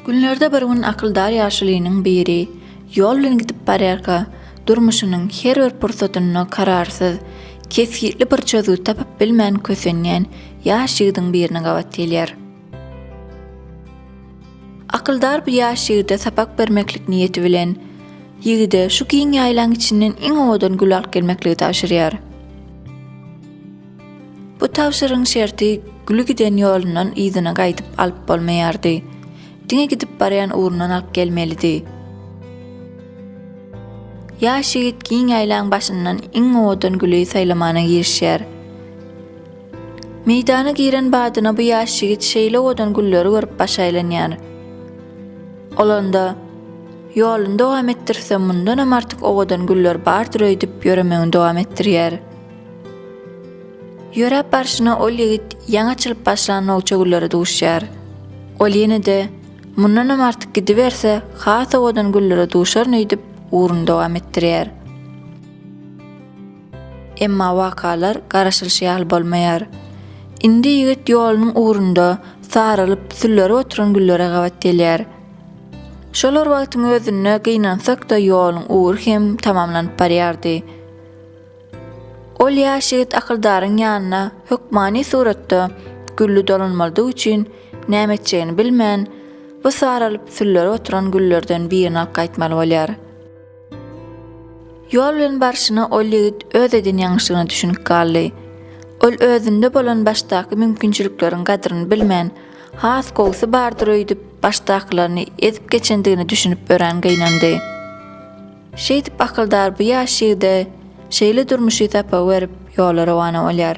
Günlerde bir gün akyldar ýaşulynyň biri ýol bilen gidip barýarka, durmuşynyň her bir pursatynda kararsyz, kesgitli bir çözgüt tapyp bilmän kösenýän ýaş ýigidiň birine gabat gelýär. Akyldar bu ýaş ýigide sapak bermeklik niýeti bilen, ýigide şu giň ýaýlaň içinden iň owadan güli alyp gelmekligi tabşyrýar. Bu tabşyrygyň şerti güli giden ýolundan yzyna gaýdyp alyp bolmaýardy. Diňe gidip barýan ugrundan alyp gelmelidi. Ýaş ýigit giň ýaýlaň başyndan iň owadan güli saýlamana girişýär. Meýdana giren badyna bu ýaş ýigit şeýle owadan gülleri görüp baş aýlanýar. Ol onda, Ýoluny dowam etdirse, mundanam artyk owadan güller bardyr öýdüp, ýöremegini dowam etdirýär. Ýöräp barşyna ol ýigit ýaňy açylyp başlan nowça güllere duşýar. Ol ýene-de, Mundanam artyk gidiberse, has owadan güllere duşaryn öýdüp, ugruny dowam etdirýär. Emma wakalar garaşylyşy ýaly bolmaýar. Indi ýigit ýolunyň ugrunda saralyp, süllärip oturan güllere gabat gelýär. Şolar wagtyň özünde gynansak-da ýoluň ugry hem tamamlanyp barýardy. Ol ýaş ýigit akyldaryň ýanyna hökmany suratda gülli dolanmalydygy üçin näme etjegini bilmän, bu saralyp, süllärip oturan güllerden birini alyp gaýtmaly bolýar. Ýol bilen barşyna ol ýigit öz eden ýalňyşlygyna düşünip galdy. Ol özünde bolan başdaky mümkinçilikleriň gadryny bilmän, has gowusy bardyr öýdüp, başdakylaryny ezip geçendigine düşünip örän gynandy. Şeýdip akyldar bu ýaş ýigide şeýle durmuşy sapa berip ýola rowana bolýar.